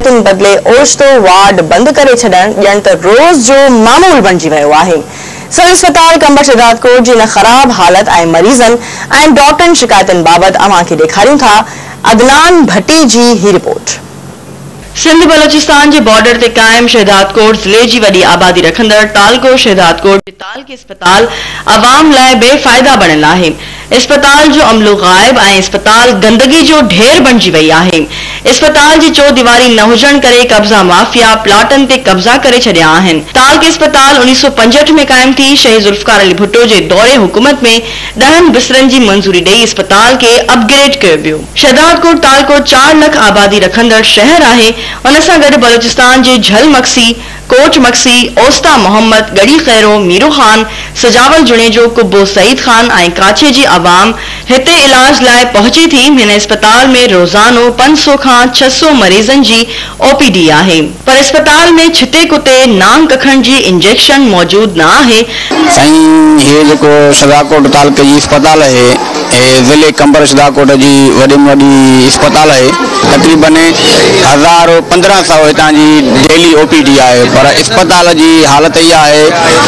تن بدلي اوچتو وارڊ بند ڪري ڇڏڻ ڄڻ ته روز جو معمول بڻجي ويو آهي. سول اسپتال قمبر شهدادڪوٽ جي ان خراب حالت ۽ مريضن ۽ ڊاڪٽرن شڪايتن بابت اوهان کي ڏيکاريون ٿا عدنان ڀٽي جي هي رپورٽ. سنڌ بلوچستان جي بارڊر تي قائم شهدادڪوٽ ضلعي جي وڏي آبادي رکندڙ تعلقو شهدادڪوٽ جي تعلقي اسپتال عوام لاء بي فائده بڻيل آهي. اسپتال جو عملو غائب ۽ اسپتال گندگي جو ڍير بڻجي وئي آهي، اسپتال جي چوديواري نه هجڻ ڪري قبضا مافيا پلاٽن تي قبضا ڪري ڇڏيا آهن، تعلقي اسپتال اڻيهه سؤ پنجهٺ ۾ قائم ٿي، شهيد ذوالفقار علي ڀٽو جي دور حڪومت ۾ ڏهن بسترن جي منظوري ڏئي اسپتال کي اپ گريڊ ڪيو ويو، شهدادڪوٽ تعلقو چار لک آبادي رکندڙ شهر آهي، ان سان گڏ بلوچستان جي جهل مگسي، ڪوٽ مگسي، اوستا محمد، ڳڙهي خيرو، ميرو خان، سجاول جوڻيجو، قبو سعيد خان ۽ ڪاڇي جي عوام هتي علاج لاء پهچي ٿي، هن اسپتال ۾ روزانو پنج سؤ کان ڇهه سؤ مريضن جي او پي ڊي آهي، پر اسپتال ۾ ڇتي ڪتي نانگ ڪکڻ جي انجيڪشن موجود نه آهي، سائين هي جيڪو شھداڪوٽ تعلقي جي اسپتال اھي اھي ضلعي قمبر شھداڪوٽ جي وڏي م وڏي اسپتال اھي تقريبن ھزار پندرهن سئو ھتان جي ڊيلي او پي ڊي آھي پر اسپتال جي حالت اھي آھي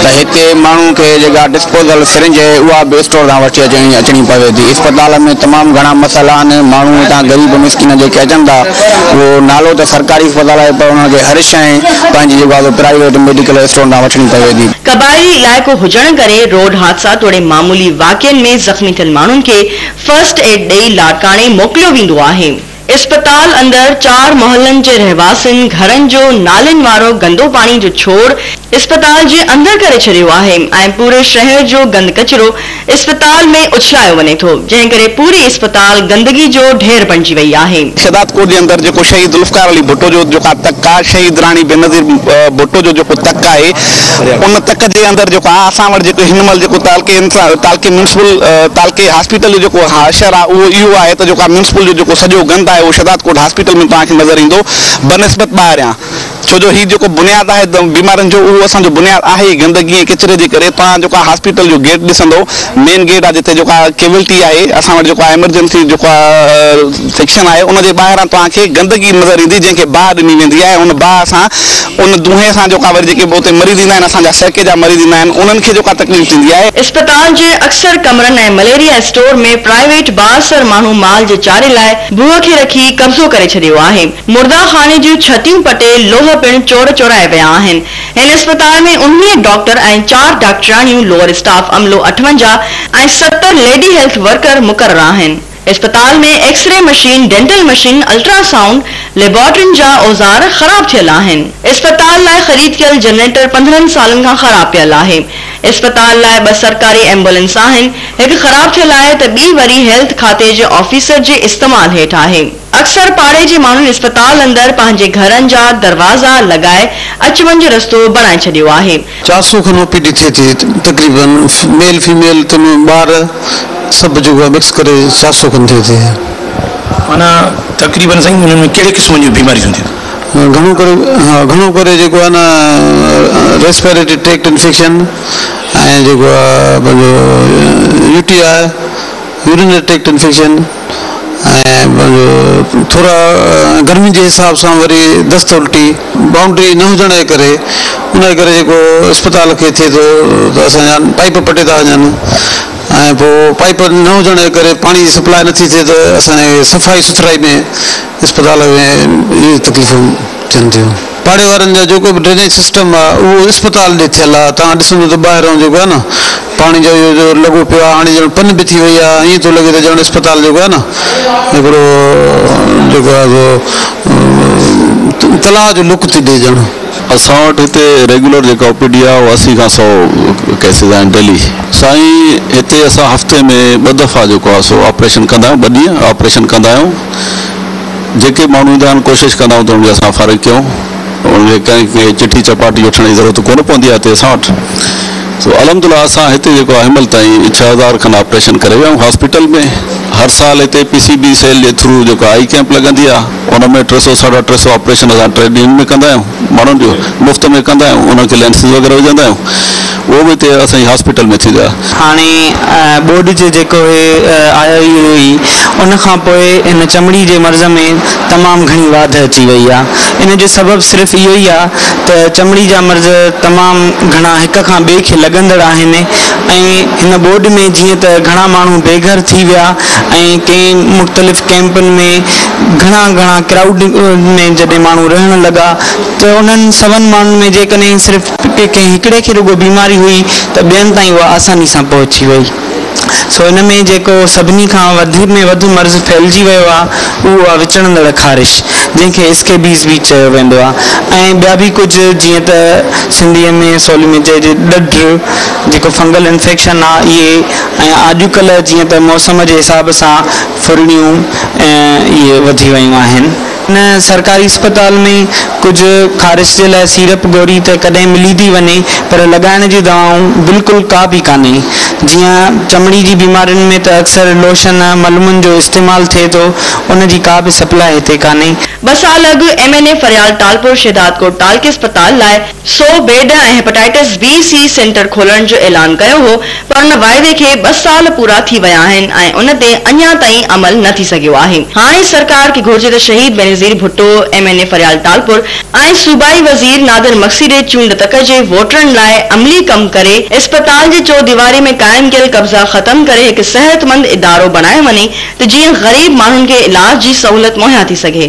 ته ھتي ماڻھون کي جيڪا ڊسپوزل سرنج اھي اھا به اسٽور تان وٺي اچڻي اچڻي پوي ٿي اسپتال ۾ تمام گھڻا مسئلا آھن ماڻھون ھتان غريب مسڪين جيڪي اچن ٿا اھو نالو ته سرڪاري اسپتال آھي پر انھن کي ھر شئي پنھنجي جيڪو آھي سو پرائيويٽ ميڊيڪل اسٽور تان وٺڻي پوي ٿي. قبائلي علائقو هجڻ ڪري روڊ حادثا توڙي معمولي واقعن ۾ زخمي ٿيل ماڻهن کي فرسٽ ايڊ ڏئي لاڙڪاڻي موڪليو ويندو آهي. اسپتال اندر چار محلن جي رهواسين گهرن جو نالين وارو گندو پاڻي جو ڇوڙ اسپتال جي اندر ڪري ڇڏيو آهي ۽ پوري شهر جو گند ڪچرو اسپتال ۾ اڇلايو وڃي ٿو جنهن ڪري پوري اسپتال گندگي جو ڍير بڻجي وئي آهي. شهداد ڪوٽ جي اندر جيڪو شهيد ذوالفقار علي ڀٽو جو جيڪا تڪ آ شهيد راڻي بينظير ڀٽو جو جيڪو تڪ آهي ان تڪ جي اندر جيڪو آ اسان وٽ جيڪو هن مهل جيڪو تعلقي انسان تعلقي ميونسپل تعلقي هاسپيٽل جو جيڪو حشر آ اهو اهو آهي ته جيڪو آ ميونسپل جو جيڪو سڄو گند آهي اهو شهداد ڪوٽ هاسپيٽل ۾ توهان کي نظر ايندو بنسبت ٻاهريان ڇو جو هي جيڪو بنياد آهي بيمارين جو اهو اسان جو بنياد آهي ئي گندگي ۽ ڪچري جي ڪري توهان جيڪو آ هاسپيٽل جو گيٽ ڏسندو مين گيٽ آ جتي جيڪو آ ڪيولٽي آهي اسان وٽ جيڪو آ ايمرجنسي جيڪو آ سيڪشن آهي ان جي ٻاهران توهان کي گندگي نظر ايندي جنهن کي باهه ڏني ويندي آهي ان باهه سان ان دونهي سان جيڪو آ وري جيڪي به اتي مريض ايندا آهن اسان جا سهڪي جا مريض ايندا آهن انهن کي جيڪو آ تڪليف ٿيندي آهي. اسپتال جي اڪثر ڪمرن ۽ مليريا اسٽور ۾ پرائيويٽ بااثر ماڻهو مال جي چاري لاء ڀوء کي رکي قبضو ڪري ڇڏيو آهي مرده خاني جون ڇتيون پٽي لوهه پڻ چور چورائي ويا آهن. هن اسپتال ۾ انهيء ڊاڪٽر ۽ چار ڊاڪٽرياڻيون، لوئر اسٽاف عملو اٺونجاهه ۽ ستر ليڊي هيلٿ ورڪر مقرر آهن. اسپتال ۾ X ray machine, dental machine, ultrasound ليبارٽرين جا اوزار خراب ٿيل آهن. اسپتال لاء خريد ڪيل جنريٽر پندرهن سالن کان خراب پيل آهي. اسپتال لاء ٻه سرڪاري ايمبولينس آهن، هڪ خراب ٿيل آهي ته ٻي وري هيلٿ کاتي جي آفيسر جي استعمال هيٺ آهي. اڪثر پاڙي جي ماڻهن اسپتال اندر پنهنجي گهرن جا دروازا لڳائي اچ وڃ رستو بڻائي ڇڏيو آهي. چار سو کن او پي ڊي ٿئي ٿي تقريبن ميل فيميل تن ٻار سڀ جيڪو آهي مڪس ڪري چار سو کن ٿئي ٿي. معنيٰ تقريبن سائين انهن ۾ ڪهڙي قسم جون بيماريون ٿين ٿيون؟ گهڻو ڪري گهڻو ڪري جيڪو آهي نه ريسپيريٽري ٽريڪٽ انفيڪشن ۽ جيڪو آهي پنهنجو U T I urinary tract infection. ۽ ٿورا گرمين جي حساب سان وري دست الٽي بائونڊري نه هجڻ جي ڪري ان جي ڪري جيڪو اسپتال کي ٿئي ٿو ته اسان جا پائيپ پٽي ٿا وڃن ۽ پوء پائيپ نه هجڻ جي ڪري پاڻي جي سپلاء نٿي ٿئي ته اسان جي صفائي سٿرائي ۾ اسپتال ۾ تڪليفون ٿين ٿيون پاڙي وارن جا جيڪو به ڊرينيج سسٽم آ اهو اسپتال ڏي ٿيل آ توهان ڏسندو ته ٻاهرئون جيڪو آ نه پاڻي جو اهو جو لڳو پيو آ هاڻي ڄڻ پن به ٿي وئي آ ائين ٿو لڳي ته ڄڻ اسپتال جيڪو آ نه هڪڙو جيڪو آ سو تلاء جو لڪ ٿي ڏي ڄڻ. اسان وٽ هتي ريگيولر جيڪا او پي ڊي آ اهو اسي کان سؤ ڪيسز آهن ڊيلي. سائين هتي اسان هفتي ۾ ٻه دفعا جيڪو آ سو آپريشن ڪندا آهيون ٻه ڏينهن آپريشن ڪندا آهيون. جيڪي ماڻهو ايندا آهن ڪوشش ڪندا آهيون ته انهن کي اسان فارغ ڪيون انهن کي ڪنهن کي چٺي چپاٽي وٺڻ جي ضرورت ڪونه پوندي آهي هتي اسان وٽ سو الحمدلله اسان هتي جيڪو آهي هنمهل تائين ڇهه هزار کن آپريشن ڪري ويا آهيون هاسپيٽل ۾ هر سال هتي پي سي بي سيل جي ٿرو جيڪو آئي ڪيمپ لڳندي آهي ان ۾ ٽي سو ساڍا ٽي سو آپريشن اسان ٽريڊ يونين ۾ ڪندا آهيون ماڻهن جو مفت ۾ ڪندا آهيون انهن کي لينسز وغيره وجهندا آهيون اهو به اتي اسان جي هاسپيٽل ۾ ٿي ويا. هاڻي ٻوڏ جي جيڪو هي آيو ئي هو ئي. ان کان پوء هن چمڙي جي مرض ۾ تمام گهڻي واڌ اچي وئي آ. ان جو سبب صرف اهو ئي آ ته چمڙي جا مرض تمام گهڻا هڪ کان ٻئي کي لڳندڙ آهن ۽ هن ٻوڏ ۾ جيئن ته گهڻا ماڻهو بي گهر ٿي ويا ۽ ڪئين مختلف ڪئمپن ۾ گهڻا گهڻا ڪرائوڊ ۾ جڏهن ماڻهو رهڻ لڳا ته انهن سون ماڻهن ۾ جيڪڏهن صرف جي ڪنهن هڪڙي کي رڳو بيماري هئي ته ٻين تائين اها آساني سان پهچي وئي سو ان ۾ جيڪو سڀني کان وڌ ۾ وڌ مرض ڦهلجي ويو آهي اهو آهي وچڙندڙ خارش جنهن کي اسڪيبيز به چيو ويندو آهي ۽ ٻيا به ڪجهه جيئن ته سنڌي ۾ سولي ۾ چئجي ڏڍ جيڪو فنگل انفيڪشن آهي اهي ۽ آڄڪلهه جيئن ته موسم جي حساب سان ڦرڙيون ۽ اهي وڌي ويون آهن. هن سرڪاري اسپتال ۾ ڪجهه خارش جي لاء سيرپ گوري ته ڪڏهن ملي ٿي وڃي پر لڳائڻ جي دوائون بلڪل ڪا به ڪانهي. جيئن چمڙي جي بيمارين ۾ ته اڪثر لوشن ۽ ملمن جو استعمال ٿئي ٿو ان جي ڪا به سپلاء هتي ڪانهي. ٻه سال اڳ M N A Faryal Talpur Shahdadkot ٽالڪي اسپتال لاء سو bed ۽ hepatitis B C centre کولڻ جو اعلان ڪيو هو پر ان واعدي کي ٻه سال پورا ٿي ويا آهن ۽ ان تي اڃا تائين عمل نه ٿي سگهيو آهي هاڻي سرڪار کي گهرجي ته شهيد Benazir Bhutto M N A Faryal Talpur ۽ صوبائي وزير نادر مگسي ڏي چونڊ تڪ جي ووٽرن لاء عملي ڪم ڪري اسپتال جي چوديواري ۾ قائم ڪيل قبضا ختم ڪري هڪ صحت مند ادارو بڻايو وڃي ته جيئن غريب ماڻهن کي علاج جي سهولت مهيا ٿي سگهي.